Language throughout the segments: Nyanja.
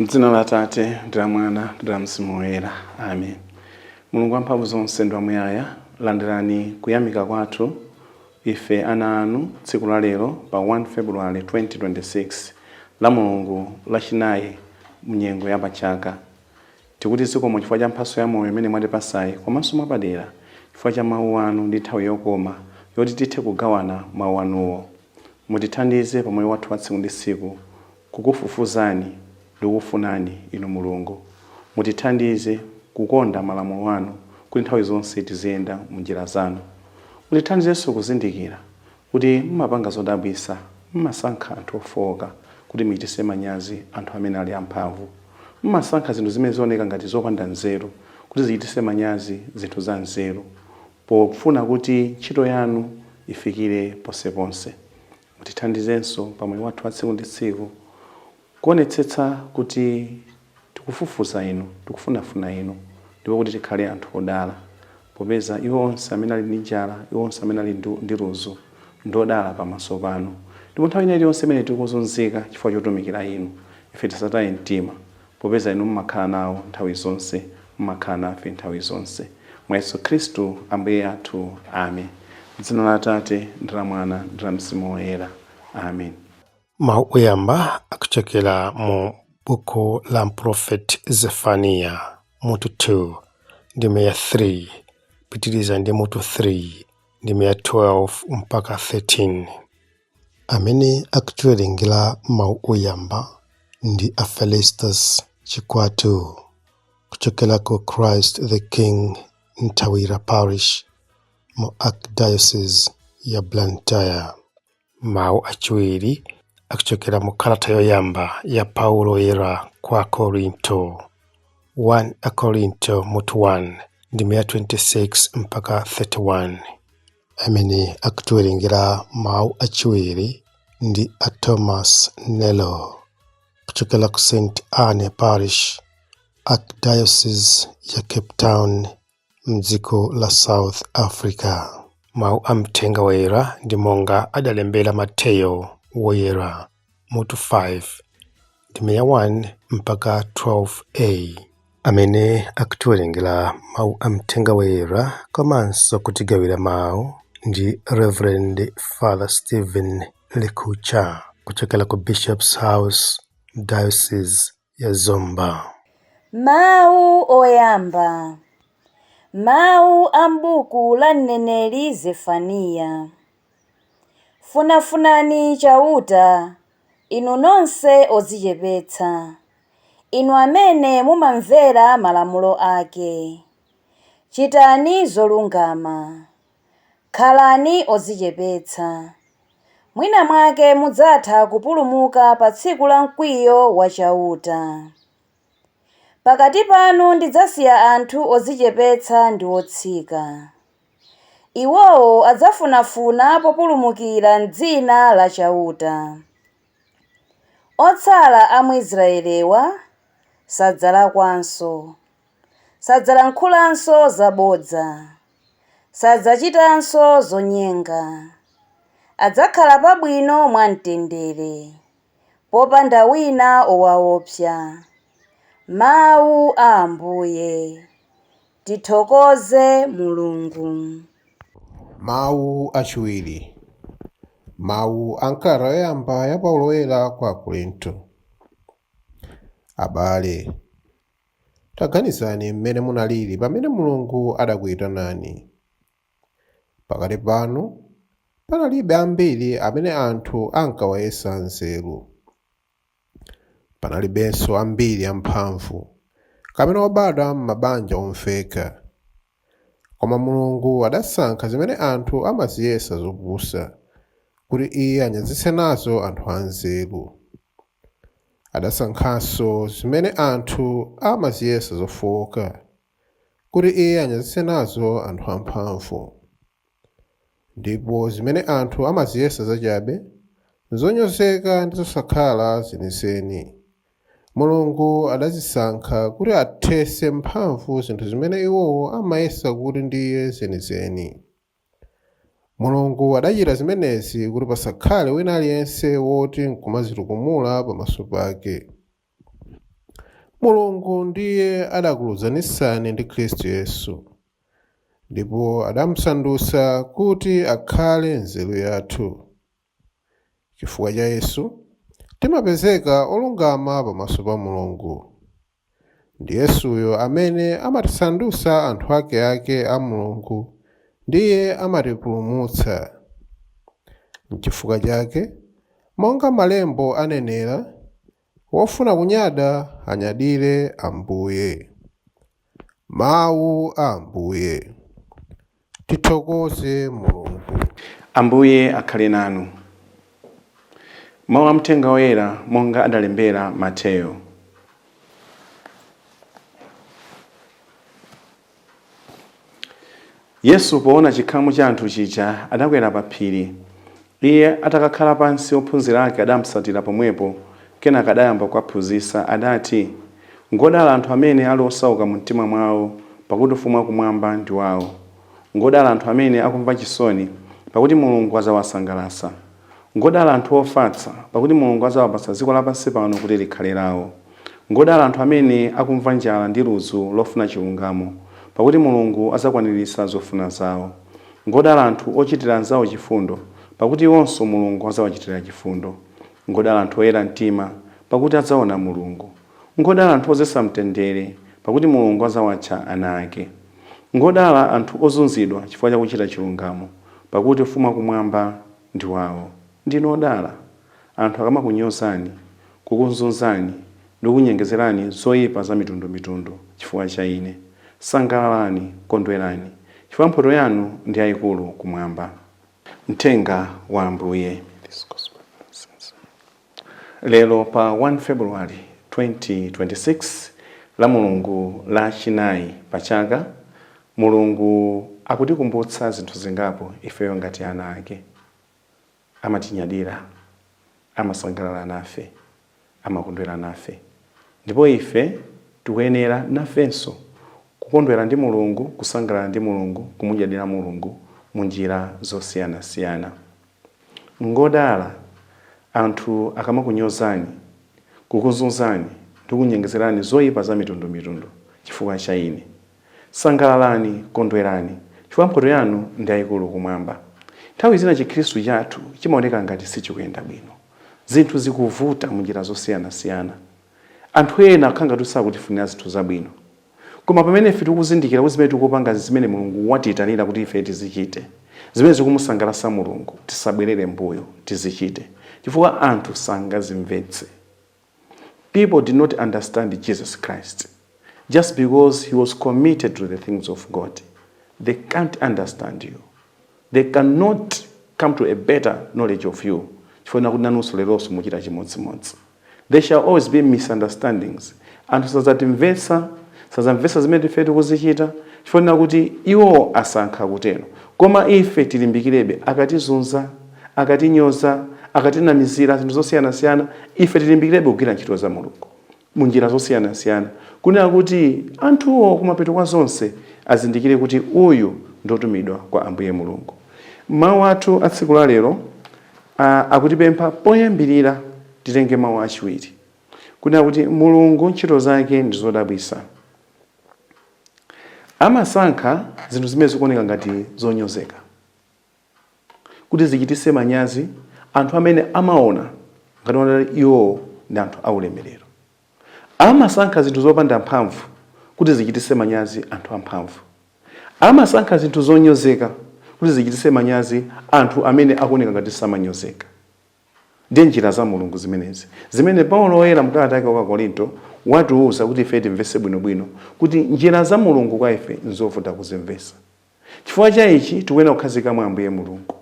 M'dzina la Atate, ndi la Mwana, ndi la Mzimu Woyera. Amen. Mulungu wamphamvu zonse ndi wamuyaya, landirani kuyamika kwathu ife ana anu tsiku la lero pa 1 February 2026 la Mulungu lachinayi mnyengo ya pachaka. Tikuti zikomo chifukwa cha mphatso ya moyo imene mwatipasayi komanso mwapadera chifukwa cha mawu anu ndi nthawi yokoma yoti tithe kugawana mawu anuwo. Mutithandize pa moyo wathu wa tsiku ndi tsiku Kukufufuzani ndi kukufunani, Inu Mulungu. Mutithandize kukonda malamulo anu kuti nthawi zonse tiziyenda m'njira zanu. Mutithandizenso kuzindikira kuti mumapanga zodabwitsa, mumasankha anthu ofooka kuti muchititse manyazi anthu amene ali amphamvu. Mumasankha zinthu zimene zioneka ngati zopanda nzeru kuti zichititse manyazi zinthu zanzeru, pofuna kuti ntchito yanu ifikire ponseponse. Mutithandizenso pa moyo wathu wa tsiku ndi tsiku kuonetsetsa kuti tikufufuza Inu, tikufunafuna Inu, ndipo kuti tikhale anthu odala, popeza iwo onse amene ali ndi njala, iwo onse amene ali ndi ludzu, ndi odala pamaso panu. Ndipo nthawi ina iliyonse imene tikuzunzika chifukwa chotumikira Inu, ife tisataye mtima, Popeza Inu mumakhala nawo nthawi zonse, mumakhala nafe nthawi zonse. Mwa Yesu Khristu Ambuye athu. Amen. M'dzina la Atate, ndi la Mwana, ndi la Mzimu Woyera. Amen. Mau oyamba akuchokera mu buku la Mprofeti Zefaniya, mutu 2, ndime ya 3, pitiriza ndi mutu 3, ndime ya 12 mpaka 13. Amene akutiwerengera mawu oyamba ndi a Felistus Chikwatu kuchokera ku Christ the King Ntawira Parish mu Archdiocese ya Blantyre. Mawu achiwiri akuchokera mu kalata yoyamba ya Paulo Woyera kwa Akorinto, 1 Akorinto mutu 1 ndime ya 26 mpaka 31. amene akutiwerengera mawu achiwiri ndi a Thomas Nelo kuchokera ku St Anne Parish, Archdiocese ya Cape Town mdziko la South Africa. Mawu a mthenga woyera ndi monga adalembera Mateyo Woyera. mutu 5 ndime ya 1 mpaka 12a amene akutiwerengera mawu a mthenga woyera komanso kutigawira mawu ndi reverend father stephen likucha kuchokera ku bishops house diocese ya Zomba. Mawu Oyamba, Mawu a m'buku la mneneri Zefaniya. Funafunani Chauta, inu nonse odzichepetsa, inu amene mumamvera malamulo ake. Chitani zolungama, Khalani odzichepetsa. Mwinamwake mudzatha kupulumuka pa tsiku la mkwiyo wa Chauta. Pakati panu ndidzasiya anthu odzichepetsa ndi otsika. Iwowo adzafunafuna populumukira m'dzina la Chauta. Otsala a mu Israelewa sadzalakwanso. sadzalankhulanso zabodza, sadzachitanso zonyenga, adzakhala pabwino mwamtendere, popanda wina owaopsa. Mawu a Ambuye. Tithokoze Mulungu. Mawu achiwiri. Mawu a m'kalata yoyamba ya Paulo Woyera kwa Akorinto. Abale, Taganizani mmene munalili pamene Mulungu adakuitanani. Pakati panu panalibe ambiri amene anthu ankawayesa anzeru. Panalibenso ambiri amphamvu kapena obadwa m'mabanja omveka. Koma Mulungu adasankha zimene anthu amaziyesa zopusa, kuti Iye anyazitse nazo anthu anzeru. Adasankhanso zimene anthu amaziyesa zofooka, kuti Iye anyazitse nazo anthu amphamvu. Ndipo zimene anthu amaziyesa zachabe, zonyozeka ndi zosakhala zenizeni, Mulungu adazisankha kuti athetse mphamvu zinthu zimene iwowo amayesa kuti ndiye zenizeni. Mulungu adachita zimenezi kuti pasakhale wina aliyense woti nkumadzitukumula pamaso pake. Mulungu ndiye adakulunzanitsani ndi Khristu Yesu, ndipo adamsandutsa kuti akhale nzeru yathu. Chifukwa cha Yesu, timapezeka olungama pamaso pa Mulungu. Ndi Yesuyo amene amatisandutsa anthu akeake a Mulungu ndiye amatipulumutsa. N'chifukwa chake, monga Malembo anenera, Wofuna kunyada anyadire Ambuye. Mawu a Ambuye. Tithokoze Mulungu. Ambuye akhale nanu. Mawu a Mthenga Woyera monga adalembera Mateyo. Yesu poona chikhamu cha anthu chija, adakwera pa phiri. Iye atakakhala pansi, ophunzira ake adamtsatira pomwepo. Kenaka adayamba kuwaphunzitsa. Adati, Ngodala anthu amene ali osauka mumtima mwao, pakuti Ufumu wakumwamba ndi wao. Ngodala anthu amene akumva chisoni, pakuti Mulungu adzawasangalatsa. Ngodala anthu ofatsa, pakuti Mulungu adzawapatsa dziko lapansi pano kuti likhale lawo. Ngodala anthu amene akumva njala ndi ludzu lofuna chilungamo, pakuti Mulungu adzakwaniritsa zofuna zawo. Ngodala anthu ochitira anzawo chifundo, pakuti iwonso Mulungu adzawachitira chifundo. Ngodala anthu oyera mtima, pakuti adzaona Mulungu. Ngodala anthu ozetsa mtendere, pakuti Mulungu adzawatcha ana ake. Ngodala anthu ozunzidwa chifukwa cha kuchita chilungamo, pakuti ufumu wa kumwamba ndi wawo. Ndinu odala, anthu akamakunyozani, kukuzunzani ndi kukunyengezerani zoipa za mitundu mitundu chifukwa cha ine. Sangalalani, kondwerani, chifukwa mphoto yanu ndi yaikulu kumwamba. Mthenga wa Ambuye. Lero pa 1 February 2026, la Mulungu la chinayi pa chaka, Mulungu akutikumbutsa zinthu zingapo ifeyo ngati ana ake. Amatinyadira, amasangalala nafe, amakondwera nafe. Ndipo ife tikuyenera, nafenso, kukondwera ndi Mulungu, kusangalala ndi Mulungu, kumunyadira Mulungu mu njira zosiyanasiyana. Ngodala anthu akamakunyozani, kukuzunzani, ndi kunyengezerani zoipa zamitundumitundu chifukwa cha Ine. Sangalalani, kondwerani, chifukwa mphoto yanu ndi yaikulu Kumwamba. Nthawi zina Chikhristu chathu chimaoneka ngati sichikuyenda bwino. Zinthu zikuvuta munjira zosiyanasiyana. Anthu ena akukhala ngati kuti sakutifunira zinthu zabwino. Koma pamene ife tikuzindikira kuti zimene tikupanga zimene Mulungu watiitanira kuti ife tizichite, zimene zikumusangalatsa Mulungu, tisabwerere m'mbuyo, tizichite, chifukwa anthu sangazimvetse. people did not understand Jesus Christ just because he was committed to the things of God. They can't understand you. They cannot come to a better knowledge of you. Chifukwa kuti nanunso leronso muchita chimodzimodzi. There shall always be misunderstandings. Anthu sazatimvetsa, sazamvetsa zimene ife tikuzichita. Chifukwa kuti iwo asankha kutero. Koma ife tilimbikirebe akatizunza akatinyoza, akatinamizira zinthu zosiyanasiyana, ife tilimbikirebe kugwira ntchito za Mulungu mu njira zosiyanasiyana, kunena kuti anthuwo kumapeto kwa zonse azindikire kuti uyu ndi wotumidwa kwa Ambuye Mulungu. Mawu athu a tsiku la lero a, akutipempha poyambirira titenge mawu achiwiri, kunena kuti Mulungu ntchito zake ndi zodabwitsa. Amasankha zinthu zimene zikuoneka ngati zonyozeka. kuti zichitise manyazi anthu amene amaona ngati kuti iwowo ndi anthu aulemerero. Amasankha zinthu zopanda mphamvu kuti zichitise manyazi anthu amphamvu. Amasankha zinthu zonyozeka kuti zichitise manyazi anthu amene akuoneka ngati samanyozeka. Ndiye njira za Mulungu zimenezi zimene Paulo Woyera mu kalata yake kwa Akorinto watiuza kuti ifeyo timvese bwinobwino kuti njira za Mulungu kwa ife nzovuta kuzimvesa. Chifukwa cha ichi tikuyenera kukhazikika mwa Ambuye Mulungu.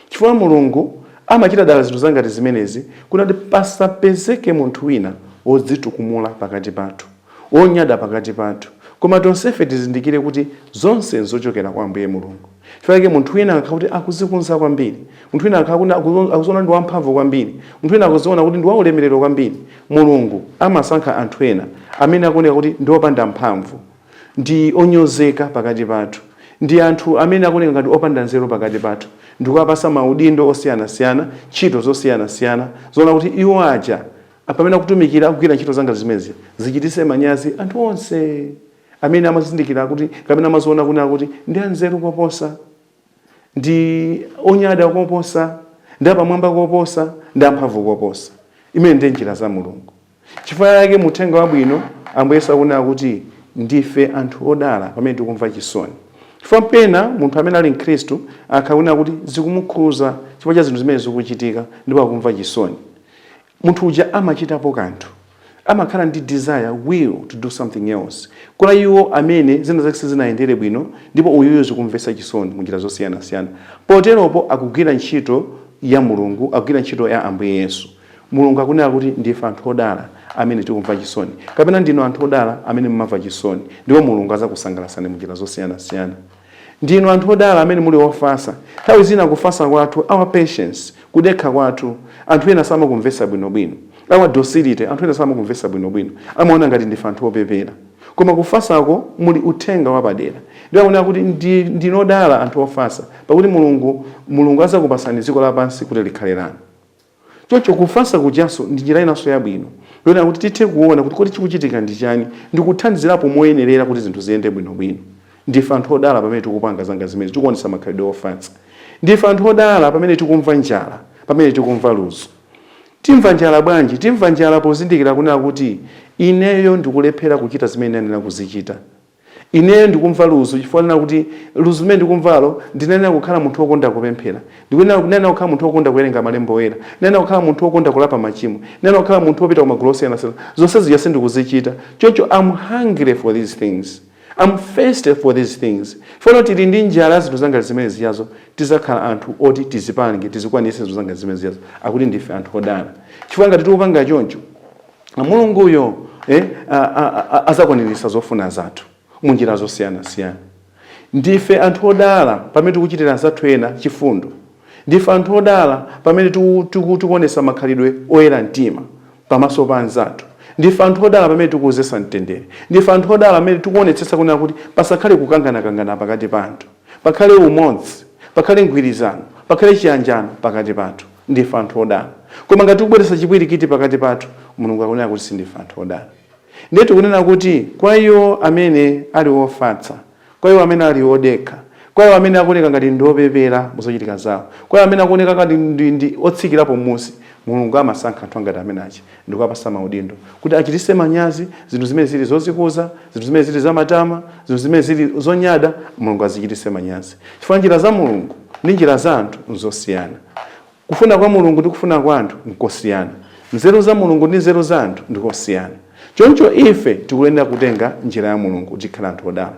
Chifukwa Mulungu amachita dala zinthu zangati zimenezi kunena kuti pasapezeke munthu wina wodzitukumula pakati pathu, wonyada pakati pathu, koma tonsefe tizindikire kuti zonse nzochokera kwa Ambuye Mulungu. Chifukwa chake munthu wina akakhala kuti akuzikuza kwambiri, munthu wina akakhala kuti akuziona ndi wamphamvu kwambiri, munthu wina akuziona kuti ndi waulemerero kwambiri, Mulungu amasankha anthu ena amene akuoneka kuti ndi opanda mphamvu. ndi onyozeka pakati pathu, ndi anthu amene akuoneka ngati opanda nzeru pakati pathu, ndi kuwapatsa maudindo osiyanasiyana, ntchito zosiyanasiyana, zoona kuti iwo aja pamene akutumikira, akugwira ntchito zangati zimenezi, zichititse manyazi anthu onse amene amazindikira kuti, kapena amaziona kunena kuti ndi anzeru koposa, ndi onyada koposa, ndi apamwamba koposa, ndi amphamvu koposa. Imene ndiye njira za Mulungu. Chifukwa chake mu Uthenga Wabwino, Ambuye Yesu akunena kuti ndife anthu odala pamene tikumva chisoni. Chifukwa pena munthu amene ali Mkhristu akaona kunena kuti zikumukhuza chifukwa cha zinthu zimene zikuchitika ndipo akumva chisoni. Munthu uja amachitapo kanthu. Amakhala ndi desire, will to do something else. Kwa iwo amene zina zake sizinayende bwino ndipo uyuyu zikumvetsa chisoni munjira zosiyanasiyana. Poteropo akugwira ntchito ya Mulungu, akugwira ntchito ya Ambuye Yesu. Mulungu akunena kuti ndife anthu odala amene tikumva chisoni, kapena ndinu anthu odala amene mumamva chisoni, ndipo Mulungu adzakusangalatsani munjira zosiyanasiyana. Ndinu anthu odala amene muli ofasa. Nthawi zina kufasa kwathu, our patience, kudekha kwathu, anthu ena samakumvetsa bwinobwino. Our docility, anthu ena samakumvetsa bwinobwino. Amaona ngati ndife anthu opepera. Koma kufasako muli uthenga wapadera. Ndipo akunena kuti ndi, ndinu odala anthu ofasa, pakuti Mulungu, Mulungu adzakupatsani dziko lapansi kuti likhale lanu. Choncho kufatsa kujanso ndi njira inanso yabwino yoona kuti tithe kuona kuti kodi chikuchitika ndi chani ndi kuthandizirapo moyenerera kuti zinthu ziyende bwinobwino. Ndife anthu odala pamene tikupanga zangati zimenezi, tikuonetsa makhalidwe ofatsa. Ndife anthu odala pamene tikumva njala, pamene tikumva ludzu. Timva njala bwanji? Timva njala pozindikira kunena kuti ineyo ndikulephera kuchita zimene ndiyenera kuzichita. Ineyo ndikumva ludzu chifukwa ndinena kuti, Ludzu limene ndikumvalo ndinayenera kukhala munthu wokonda kupemphera. Ndikuyenera, ndinayenera kukhala munthu wokonda kuwerenga Malembo Oyera. Ndinayenera kukhala munthu wokonda kulapa machimo. Ndinayenera kukhala munthu wopita ku magulu osiyanasiyana. Zonse zija sindikuzichita. Choncho am hungry for these things. Am thirsty for these things. Pamene tili ndi njala ya zinthu zangati zimene zijazo. Tidzakhala anthu oti tizipange, tizikwaniritse zinthu zangati zimene zijazo. Akuti ndife anthu odala. Chifukwa ngati tikupanga choncho. Mulunguyo eh, azakwaniritsa zofuna zathu mu njira zosiyanasiyana. Ndife anthu odala pamene tikuchitira anzathu ena chifundo. Ndife anthu odala pamene tikuonetsa makhalidwe oyera mtima pamaso pa anzathu. Ndife anthu odala pamene tikudzetsa mtendere. Ndife anthu odala pamene tikuonetsetsa kunena kuti pasakhale kukanganakangana pakati pa anthu. Pakhale umodzi, pakhale mgwirizano, pakhale chiyanjano pakati pathu. Ndife anthu odala. Koma ngati tikubweretsa chipwirikiti pakati pathu, Mulungu akunena kuti sindife anthu odala. Ndiye tikunena kuti kwa iwo amene ali ofatsa, kwa iwo amene ali odekha, kwa iwo amene akuoneka ngati ndi opepera mu zochitika zawo, kwa iwo amene akuoneka ngati ndi otsikirapo mmusi, Mulungu amasankha anthu angati amene aja. ndikuwapasa maudindo kuti achitise manyazi zinthu zimene zili zozikuza, zinthu zimene zili zamatama, zinthu zimene zili zonyada, Mulungu azichitise manyazi. Chifukwa njira za Mulungu ndi njira za anthu nzosiyana. Kufuna kwa Mulungu ndi kufuna kwa anthu nkosiyana. Nzeru za Mulungu ndi nzeru za anthu ndikosiyana. Choncho ife tikuyenera kutenga njira ya Mulungu kuti tikhale anthu odala.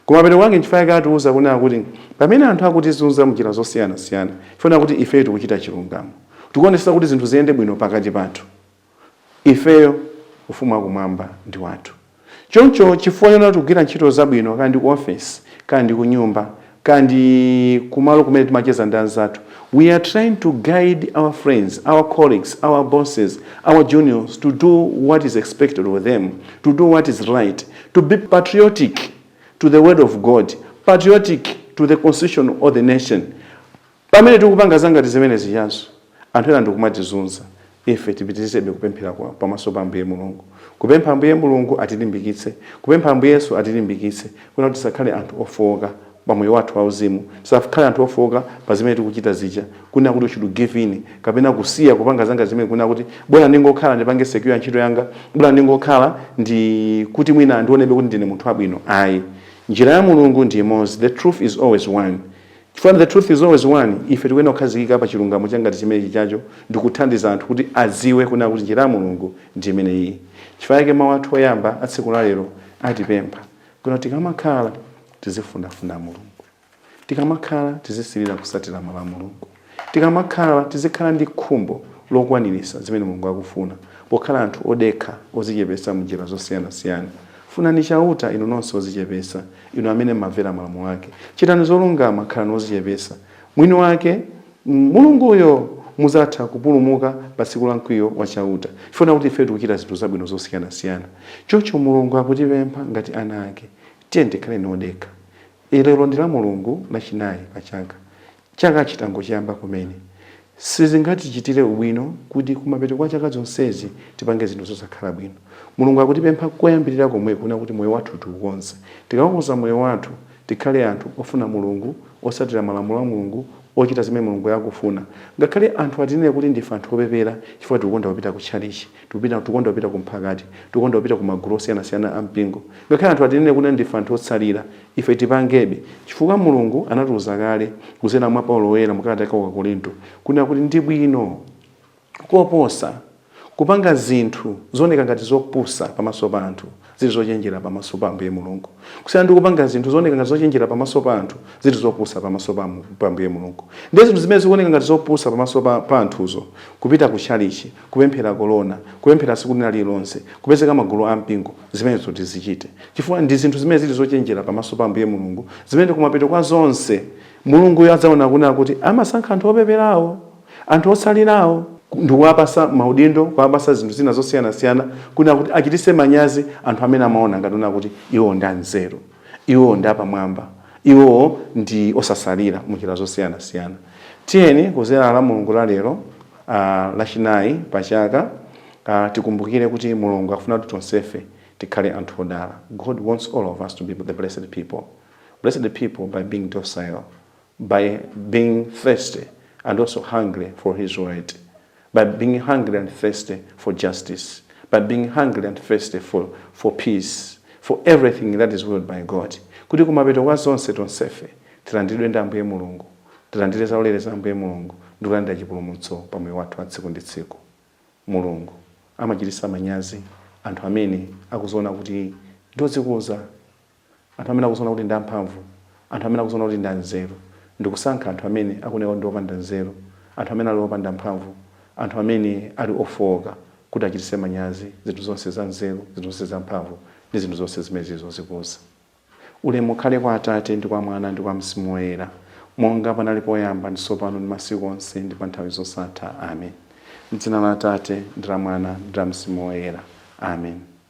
Kumapeto kwake nchifukwa chake atiuza kunena kuti pamene anthu akutizunza m'njira zosiyanasiyana, chifukwa kuti ifeyo tikuchita chilungamo. Tikuonetsetsa kuti zinthu ziyende bwino pakati pathu. Ifeyo, Ufumu wa Kumwamba ndi wathu. Choncho, chifukwa chonena kuti tikugwira ntchito zabwino, kaya ndi ku ofesi, kaya ndi kunyumba, kaya ndi kumalo kumene timacheza ndi anzathu, we are trying to guide our friends, our colleagues, our bosses, our juniors to do what is expected of them, to do what is right, to be patriotic to the word of God, patriotic to the constitution of the nation. Pamene tikupanga za ngati zimene zijazo, anthu ena ndi kumatizunza, ife tipitirizebe kupemphera kwa, pamaso pa Ambuye Mulungu, kupempha Ambuye Mulungu atilimbikitse, kupempha Ambuye Yesu atilimbikitse, kunena kuti tisakhale anthu ofooka pa moyo wathu wa uzimu, tisakhale anthu ofooka pa zimene tikuchita zija, kunena kuti u should give in, kapena kusiya kupanga za ngati zimene, kunena kuti bola ndingokhala ndipange secure ntchito yanga, bola ndingokhala ndi kuti mwina andionebe kuti ndine munthu wabwino. Ayi. Njira ya Mulungu ndi imodzi, the truth is always one. Chifukwa the truth is always one, ife tikuyenera kukhazikika pa chilungamo cha ngati chimenechi chacho ndi kuthandiza anthu kuti adziwe kunena kuti njira ya Mulungu ndi imeneyiyi. Chifukwa chake mau athu oyamba a tsiku la lero atipempha kunena kuti tikamakhala tizifunafuna Mulungu. Tikamakhala tizisilira kusatira malamulo a Mulungu. Tikamakhala tizikhala ndi khumbo lokwanirisa zimene Mulungu akufuna pokhala anthu odekha, odzichepetsa mu njira zosiyanasiyana. Funani Chauta, inu nonse odzichepetsa. Inu amene mumamvera malamulo ake, chitani zolungama, khalani ozichepesa. Mwini wake, Mulunguyo, muzatha kupulumuka pa tsiku la mkwiyo wa Chauta. Chifukwa kunena kuti ifeyo tikuchita zinthu zabwino zosiyanasiyana. Choncho Mulungu akutipempha ngati ana ake. Tiyeni tikhaleni odekha. Lero ndi la Mulungu lachinayi pa chaka. Chaka chitangochiyamba kumene, sizingatichitire ubwino kuti kumapeto kwa chaka zonsezi tipange zinthu zosakhala bwino. Mulungu akutipempha koyambirira komwe kunena kuti moyo wathu tiukonze. Tikaukonza moyo wathu, tikhale anthu ofuna Mulungu, otsatira malamulo a Mulungu, ochita zimene Mulunguyo akufuna. Ngakhale anthu atinene kuti ndife anthu opepera chifukwa tikukonda kupita kutchalitchi. Tikukonda kupita ku mphakati. Tikukonda kupita ku magulu osiyanasiyana a mpingo. Ngakhale anthu atinene kunena ndife anthu otsalira, ife tipangebe, chifukwa Mulungu anatiuza kale kudzera mwa Paulo Woyera mu kalata yake ya kwa Akorinto, kunena kuti ndi bwino koposa kupanga zinthu zooneka ngati zopusa pamaso pa anthu, ziri zochenjera pamaso pa Ambuye Mulungu, kusiyana ndi kupanga zinthu zooneka ngati zochenjera pamaso pa anthu, ziri zopusa pamaso pa, pa Ambuye Mulungu. Ndiye zinthu zimene zikuoneka ngati zopusa pamaso pa, pa anthuzo, kupita ku chalichi, kupemphera kolona, kupemphera tsiku lina lililonse, kupezeka magulu a mpingo, zimenezo tizichite, chifukwa ndi zinthu zimene ziri zochenjera pamaso pa Ambuye Mulungu, zimene kumapeto kwa zonse Mulunguyo adzaonetsa kunena kuti amasankha anthu opeperawo. Anthu otsalirawo ndikuwapasa maudindo, kuwapasa zinthu zina zosiyanasiyana kunena kuti achitise manyazi anthu amene amaona ngati kunena kuti iwowo ndi anzeru, iwowo ndi apamwamba, iwowo ndi osatsalira munjira zosiyanasiyana. Tiyeni kudzera la Mulungu la lero, lachinayi pa chaka, tikumbukire kuti Mulungu akufuna kuti tonsefe tikhale anthu odala. God wants all of us to be the blessed people. Blessed people by being docile. by being thirsty and also hungry for his word, by being hungry and thirsty for justice, by being hungry and thirsty for, for peace, for everything that is willed by God. Kuti kumapeto kwa zonse tonsefe tilandilidwe ndi Ambuye Mulungu, tilandire zaulere za Ambuye Mulungu ndi kulandira chipulumutso pa moyo wathu wa tsiku ndi tsiku. Mulungu amachititsa manyazi anthu amene akuziona kuti ndodzikuza anthu amene akudziona kuti ndi amphamvu, anthu amene akudziona kuti ndi anzeru, ndi kusankha anthu amene akuoneka kuti ndi opanda nzeru, anthu amene ali opanda mphamvu, anthu amene ali ofooka, kuti achititse manyazi zinthu zonse zanzeru, zinthu zonse zamphamvu, ndi zinthu zonse zimene zili zodzikuza. Ulemu ukhale kwa Atate, ndi kwa Mwana, ndi kwa Mzimu Woyera, monga panali poyamba, ndi tsopano, ndi masiku onse, ndi pa nthawi zosatha. Amen. M'dzina la Atate, ndi la Mwana, ndi la Mzimu Woyera. Amen.